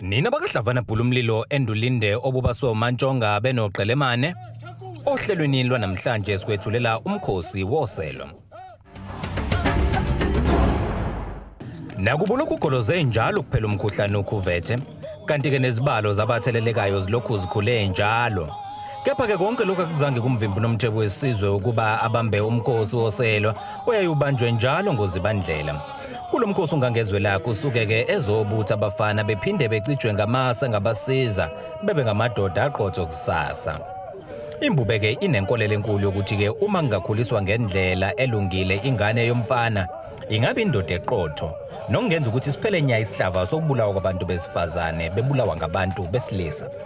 Nina bakadlavana bhula umlilo endulinde obubaswe umantshonga benoqelemane ohlelweni lwanamhlanje sikwethulela umkhosi woselo nakubo lokhu ugoloze njalo kuphela umkhuhlane ukhuvethe kanti-ke nezibalo zabathelelekayo zilokhu zikhule njalo kepha-ke konke lokhu akuzange kumvimbi unomthebo wesizwe ukuba abambe umkhosi woselwa oyaye ubanjwe njalo ngozibandlela Kulo mkhosi uNgangezwe lakho usuke-ke ezobutha abafana bephinde becijwe ngamasa ngabasiza bebe ngamadoda aqotho kusasa. Imbube-ke inenkolelo enkulu yokuthi-ke uma ngingakhuliswa ngendlela elungile ingane yomfana ingabe indoda eqotho nokungenza ukuthi siphele nya isihlava sokubulawa kwabantu besifazane bebulawa ngabantu besilisa.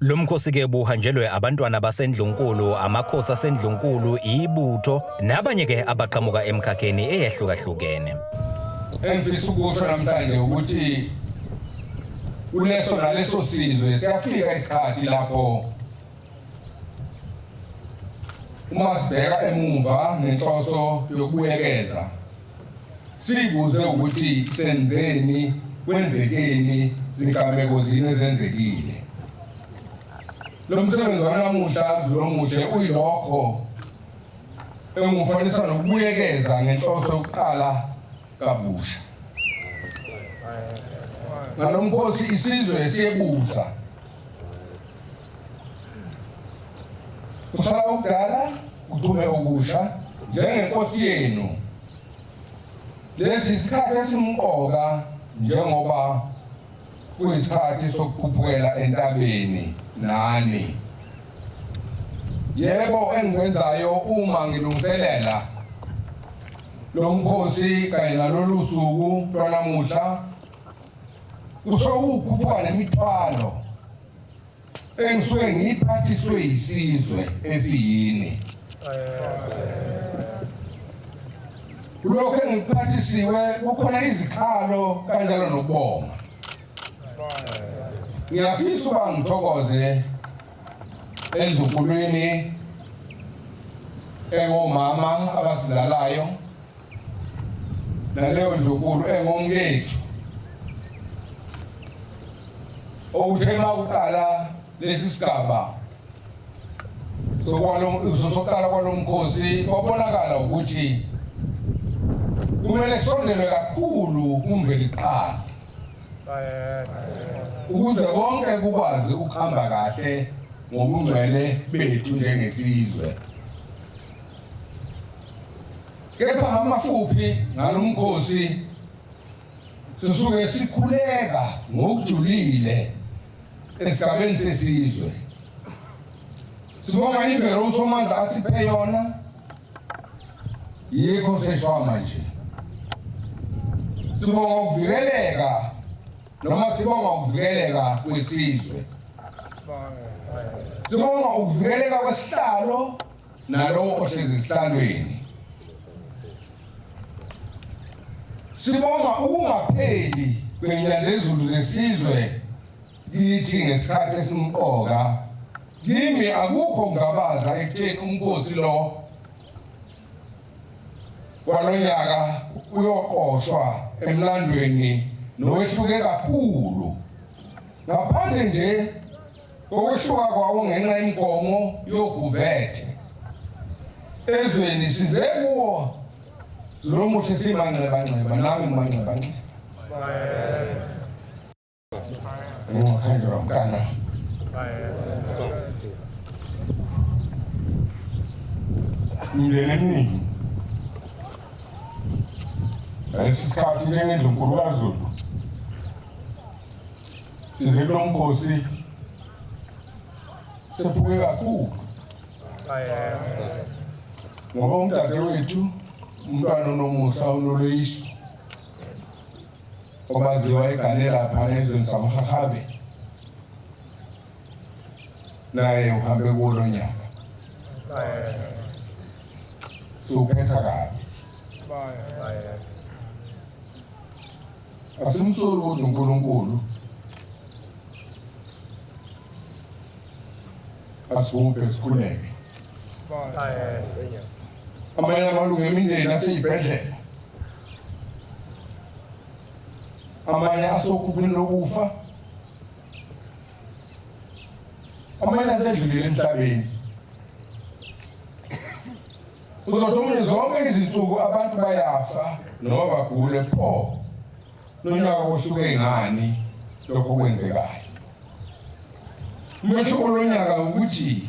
Lo mkhosi ke buhanjelwe abantwana basendlunkulu, amakhosi asendlunkulu, ibutho nabanye ke abaqhamuka emkhakheni eyehlukahlukene. Engifisa ukusho namhlanje ukuthi Kuleso naleso sizwe siyafika isikhathi lapho uma sibheka emuva ngenhloso yokubuyekeza sibuze ukuthi senzeni kwenzekeni zigameko zini ezenzekile lo msebenzi wanamuhla zilomuhle uyilokho engufanisa nokubuyekeza ngenhloso yokuqala kabusha. Ngalo mkhosi isizwe siyebusa. Kusala ukudala kuchume okusha njengenkosi yenu. Lesi isikhathi esimqoka njengoba Kuyisikhathi sokukhuphukela entabeni nani. Yebo engikwenzayo uma ngilungiselela lo mkhosi kanye nalolu suku lwanamuhla kusho ukukhuphuka nemithwalo engisuke ngiyiphathiswe yisizwe esiyini kulokho engikuphathisiwe kukhona izikhalo kanjalo nokubonga ngiyafisa uba ngithokoze endlukulwini engomama abasizalayo naleyo ndlunkulu engomkethu okuthe uma uqala lesi sigaba sokuqala kwalo mkhosi kwabonakala ukuthi kumele kusondelwe kakhulu kumveli kuqala ukuze konke kukwazi ukuhamba kahle ngobungcwele bethu njengesizwe Kepha ngamafuphi ngalo mkhosi sisuke sikhuleka ngokujulile esigabeni sesizwe. Sibonga imvelo uSomandla asiphe yona yikho seshwa manje. Sibonga ukuvikeleka noma sibonga ukuvikeleka kwesizwe. Sibonga ukuvikeleka kwesihlalo nalowo ohlezi esihlalweni sibonga ukungapheli kwenyandezulu zesizwe kithi ngesikhathi esimqoka kimi akukho ngabaza ekutheni umkhosi lo kwalonyaka uyoqoshwa emlandweni nowehluke kakhulu ngaphandle nje Ukwehluka kwawo ngenxa yenkomo yoguvethe ezweni size kuwo zilomuhle simanxebanxeba nami ngimanxebanxeba ngingakhanjelwa mntana mndeni eminingi ngalesi sikhathi njengendlunkulu kazulu Size kulo mkhosi sephuke kakhulu ngoba umdadewethu umntwana unomusa unoloyiso obaziwa egane lapha ezweni samhahabe naye uhambe kulo nyaka siwuphetha kabi Asimsoli kodwa uNkulunkulu. Asibuphe sikhuleke. Amanye amalungu emindeni aseyibhedlela. Amanye asokhuphini lokufa. Amanye asedlulile emhlabeni. Uzothi umuntu zonke izinsuku abantu bayafa noma bagule pho nonyaka kuhluke ngani lokho kwenzekayo. Umehluko lonyaka ukuthi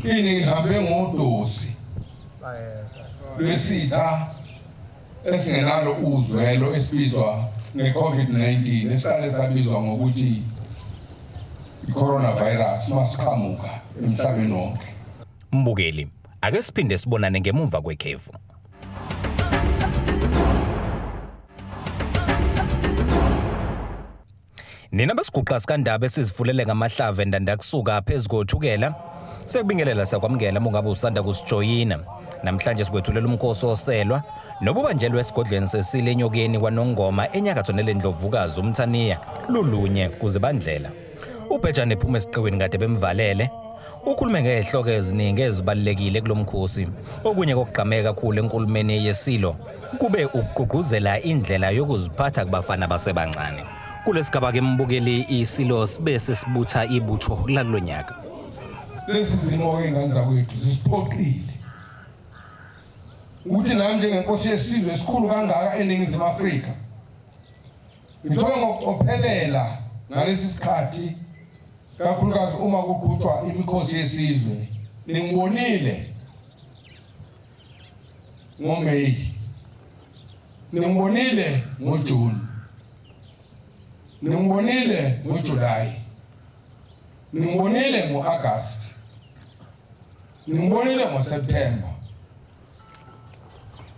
ini ngihambe ngodosi lwesitha esingenalo uzwelo esibizwa nge-COVID-19 esihlale sabizwa ngokuthi i-coronavirus masiqhamuka emhlabeni wonke. Mbukeli, ake siphinde sibonane ngemumva kwekhefu. Nina besiguqa sikandaba esizifulele ngamahlave ndandakusuka phezu kothukela sekubingelela sakwamukela mungabe usanda kusijoyina namhlanje sikwethulela umkhosi oselwa nobubanjelwe esigodlweni sesile enyokeni kwanongoma enyakatho nelendlovukazi umthaniya lulunye kuzibandlela Ubhejane ephuma esiqiwini kade bemvalele. Ukhulume ngezihloko eziningi ezibalulekile kulomkhosi. Okunye kokugqameka kakhulu enkulumeni yesilo kube ukugqugquzela indlela yokuziphatha kubafana basebancane. Kulesigaba ke mbukeli isilo sibe sesibutha ibutho lalonyaka. Lezi zimo ke ngane zakwethu zisiphoqile ukuthi nami njengenkosi yesizwe esikhulu kangaka eningizimu Afrika Ngithola ngokucophelela ngalesi sikhathi kakhulukazi uma kuqhutshwa imikhosi yesizwe ningibonile ngoMay ningibonile ngoJune ningibonile ngoJuly ningibonile ngoAugust ningibonile ngoSeptember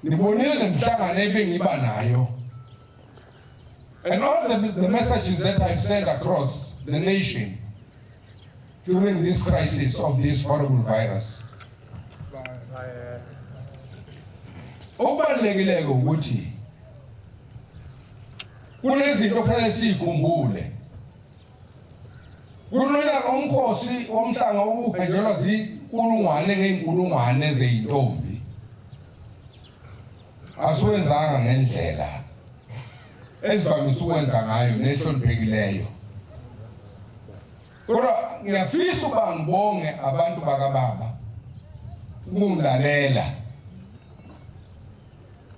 nibonile nemhlangano ebengiba nayo And all the, the messages that I've sent across the nation during this crisis of this horrible virus. Okubalulekileke ukuthi kunezinto kufanele siyikhumbule. Kunoya umkhosi womhlanga okugejelwa zinkulungwane ngeenkulungwane zeintombi. Asiwenzanga ngendlela esivamise ukwenza ngayo nehloniphekileyo. Kodwa ngiyafisa uba ngibonge abantu bakababa ukungilalela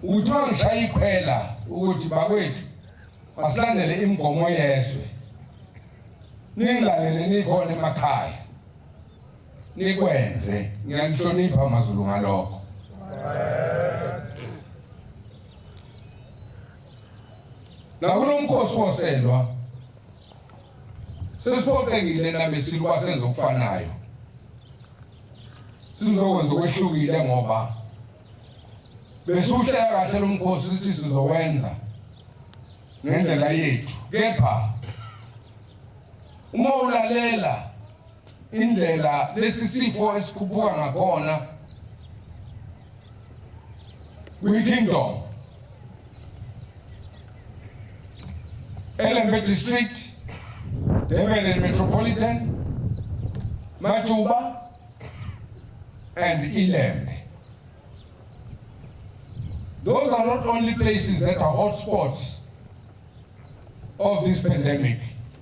ukuthi bangishaya ikhwela ukuthi bakwethu basilandele imigomo yezwe ningilalele nikhona emakhaya nikwenze ngiyanihlonipha amazulu ngalokho la kunomkhosi woselwa sesiphoqekile nabesilwa ukuba senze okufanayo sizokwenza okwehlukile ngoba besuhlela kahle lo mkhosi ukuthi sizowenza ngendlela yethu kepha uma ulalela Indlela lesi sifo esikhuphuka ngakhona kwi-kingdom elembe district Durban Metropolitan, Majuba and Ilembe. Those are not only places that are hotspots of this pandemic.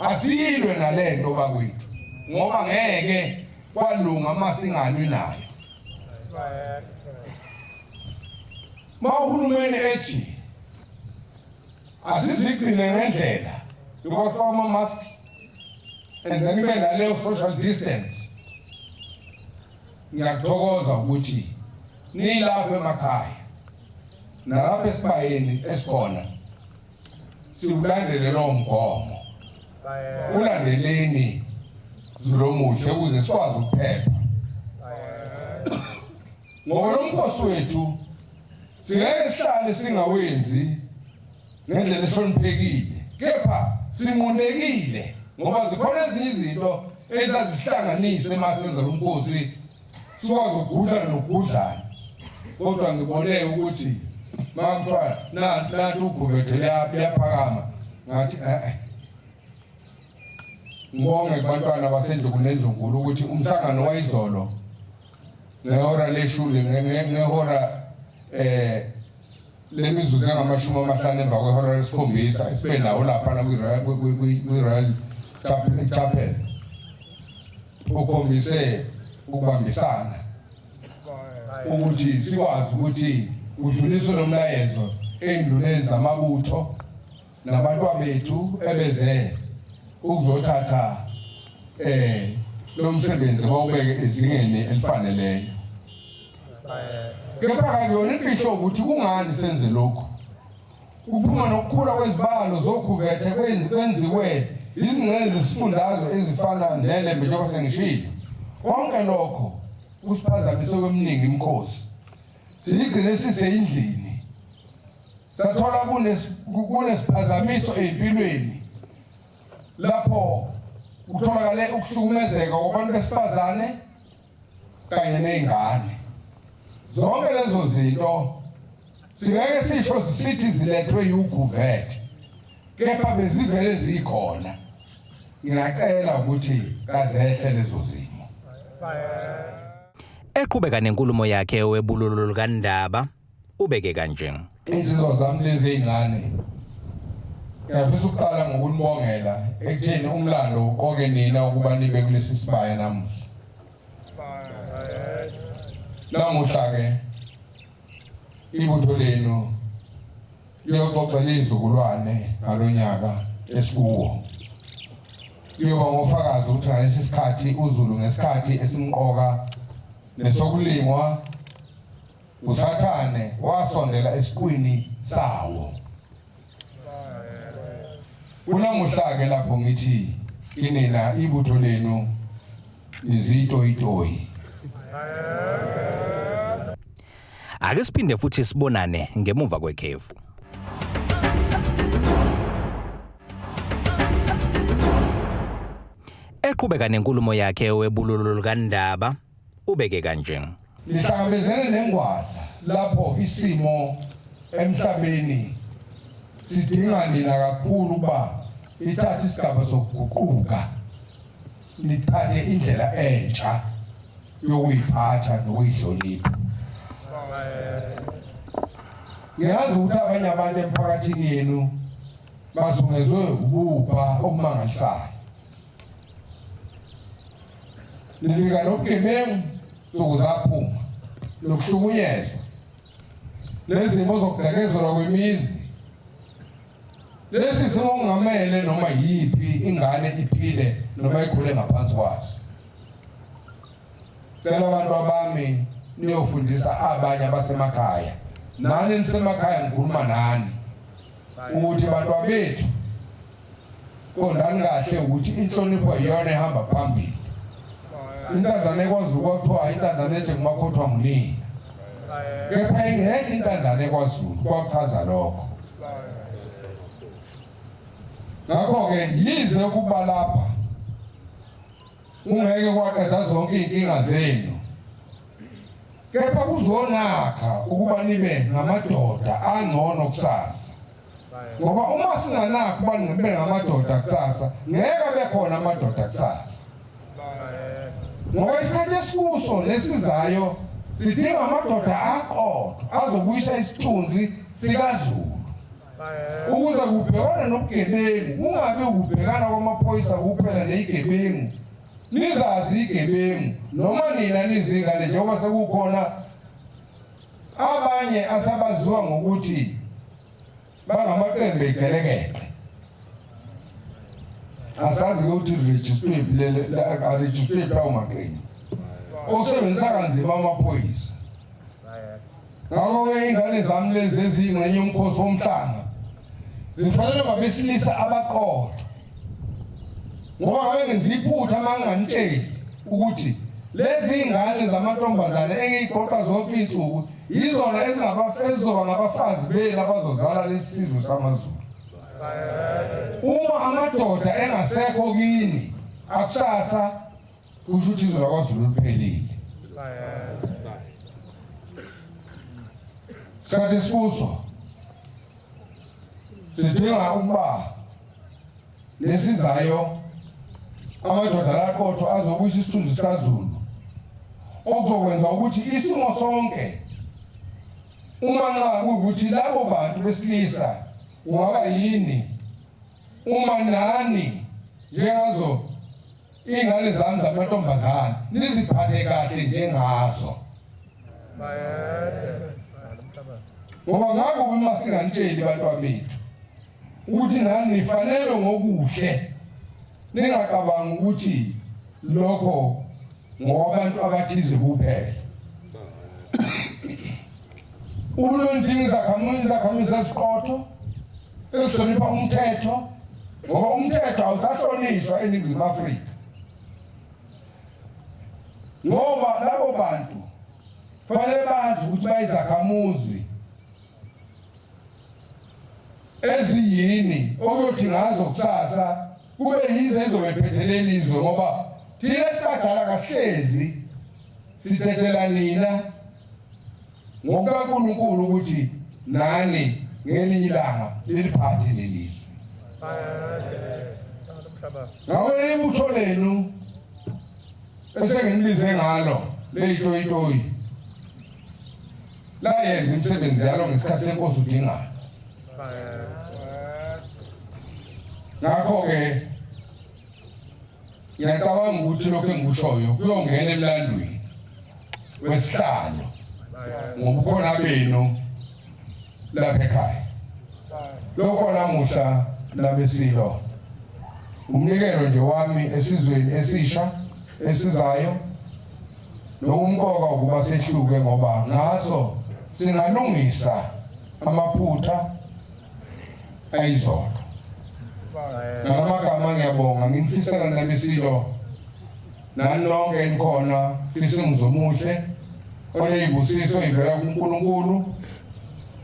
Asiyilwe nalento bakwethu ngoba ngeke kwalunga uma singalwi nayo. Uma uhulumeni ethi asizigcine ngendlela yokwafaka ama-mask and then kube naleyo social distance ngiyakuthokoza ukuthi nilapho emakhaya nalapho esibayeni esikhona siwulandele lowo mgomo ulandeleni zulomuhle ukuze sikwazi ukuphepha ngoba lo mkhosi wethu singeke sihlale singawenzi ngendlela ehloniphekile kepha sinqunekile ngoba zikhona ezinye izinto ezazihlanganise uma senza lo mkhosi sikwazi ukugudlana nokugudlana kodwa ngibone ukuthi makuthiwa nanti uguvethe liyaphakama ngathi e-e ngibonge kubantwana basendukunenzunkulu ukuthi umhlangano wayizolo ngehora leshuli ngehora um lemizuzu engamashumi amahlanu emva kwehora lesikhombisa esibe nawo laphana kwi-royal chapel ukhombise ukubambisana ukuthi sikwazi ukuthi udluliswe lo mlayezo ey'nduneni zamabutho nabantwabethu ebeze ukuzothatha eh lo msebenzi bawubeke ezingeni elifaneleyo kepha akuyona imfihlo ukuthi kungani senze lokhu Ukuphuma nokukhula kwezibalo zokhuvethe kwenziwe izingxenye zesifundazwe ezifana neLembe njengoba sengishilo konke lokho kusiphazamise kweminingi imikhosi siyigcine siseyindlini sathola kunesiphazamiso ey'mpilweni lapho kutholakale ukuhlukumezeka kwabantu besifazane kanye nezingane zonke lezo zinto singeke sisho sithi zilethwe yuguvet kepha bezivele zikhona ngiyacela ukuthi kazehle lezo zimo eqhubeka nenkulumo yakhe owebululu lukaNdaba Ubeke kanje. Insizwa zami lezi ezincane ngiyafisa ukuqala ngokunibongela ekutheni umlando uqoke nina ukuba nibe kulesi sibaya namuhla. Namuhla-ke ibutho lenu liyoxoxela izizukulwane ngalo nyaka esikuwo. Liyoba ngofakazi ukuthi ngalesi sikhathi uZulu ngesikhathi esimqoka nesokulingwa USathane wasondela esiqwini sawo. Kunamuhla-ke lapho ngithi kinina ibutho lenu nizitoyitoyi. Ake siphinde futhi sibonane ngemuva kwekhefu. Eqhubeka nenkulumo yakhe webululu lukaNdaba Ubeke kanje. Nihlangabezene nengwadla lapho isimo emhlabeni sidinga nina kakhulu ukuba nithathe isigaba sokuguquka nithathe indlela entsha yokuyiphatha nokuyihlonipha ngiyazi ukuthi abanye abantu emphakathini yenu bazungezwe ububha obumangalisayo Nifika nobugebengu nsuku zaphuma nokuhlukunyezwa nezimo zokudakezelwa kwemizi lesi simo kungamele noma yiphi ingane iphile noma ikhule ngaphansi kwaso cela abantu abami niyofundisa abanye abasemakhaya nani nisemakhaya ngikhuluma nani ukuthi bantwabethu Qondani kahle ukuthi inhlonipho iyona ehamba phambili. Intandane ekwazi ukuthiwa intandane enhle ngumakhothwa ngunini. Kepha ingekho intandane kwaZulu kwachaza lokho. Ngakho-ke yize ukuba lapha ungeke kwaqeda zonke iy'nkinga zenu kepha kuzonakha ukuba nibe ngamadoda angcono kusasa. ngoba uma singanakho ubani ngempela ngamadoda kusasa ngeke abe khona amadoda kusasa ngoba isikhathi esikuso nesizayo sidinga amadoda aqotho azobuyisa isithunzi sikazulu ukuze kubhekwane nobugebengu kungabi ukubhekana kwamaphoyisa kuphela neyigebengu nizazi igebengu noma nina nizingane njengoba sekukhona Abanye asabaziwa ngokuthi bangamaqembu egelekeqe asazi ukuthi rejistwe arejistwe lawo maqembu osebenzisa kanzima amaphoyisa ngakho-ke ingane zami lezi eziyingxenye yomkhosi womhlanga zifanele ngabesilisa abaqotho ngoba wayengenza iphutha uma nginganitsheli ukuthi lezi ngane zamantombazane engiyiqoqa zonke iy'nsuku yizona ezizoba ngabafazi benu abazozala lesi sizwe samazulu uma amadoda engasekho kini akusasa kusho ukuthi izwe lakwazulu liphelile sikhathi esikuso sidinga ukuba nesizayo amadoda laqothwa azobuyisa isithunzi sikaZulu okuzokwenza ukuthi isimo sonke uma nxa kuwukuthi labo bantu besilisa ungaba yini uma nani njengazo ingane zami zamantombazane niziphathe kahle njengazo ngoba ngakho uma singanitsheli bantwa bethu ukuthi nani nifanelwe ngokuhle ningacabangi ukuthi lokho ngowabantu abathize kuphela ulondinga izakhamuzi izakhamuzi eziqotho ezihlonipha umthetho ngoba umthetho awusahlonishwa eningizimu afrika ngoba labo bantu fanele bazi ukuthi bayizakhamuzi eziyini okuyothi ngazo kusasa kube yize ezobephethelele izwe ngoba thina sibadala kasihlezi sithethela nina ngokukaNkulunkulu ukuthi nani ngelinye ilanga liliphathe leli zwe ngawe ibutho lenu esenginibize ngalo leyitoyitoyi Bayenza imisebenzi yalo ngesikhathi senkosi udingayo. Ngakho-ke ngiyacabanga ukuthi lokhu engikushoyo kuyongena emlandweni wesihlalo ngobukhona benu lapha ekhaya. Lokho namuhla nabesilo umnikelo nje wami esizweni esisha esizayo Lokumqoka ukuba sehluke ngoba ngaso singalungisa amaphutha ayizona. Ngalamagama ngiyabonga ngimfisela nabisilo nani nonke enikhona fisa umzi omuhle oneyibusiso ivela kuNkulunkulu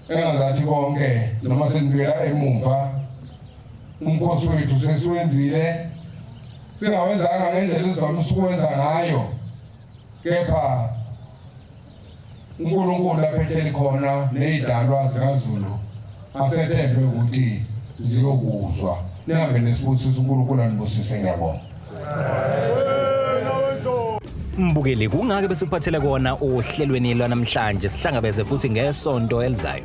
engazathi konke noma senibuyela emumva umkhosi wethu sesiwenzile Singawenzanga ngendlela esivamise ukwenza ngayo kepha uNkulunkulu lapho ehleli khona nezidalwa zikaZulu asethembe ukuthi ziyokuzwa nihambe nesibusiso uNkulunkulu anibusise ngiyabonga mbukeli kungake besiphathele kona ohlelweni lwanamhlanje sihlangabeze futhi ngesonto elizayo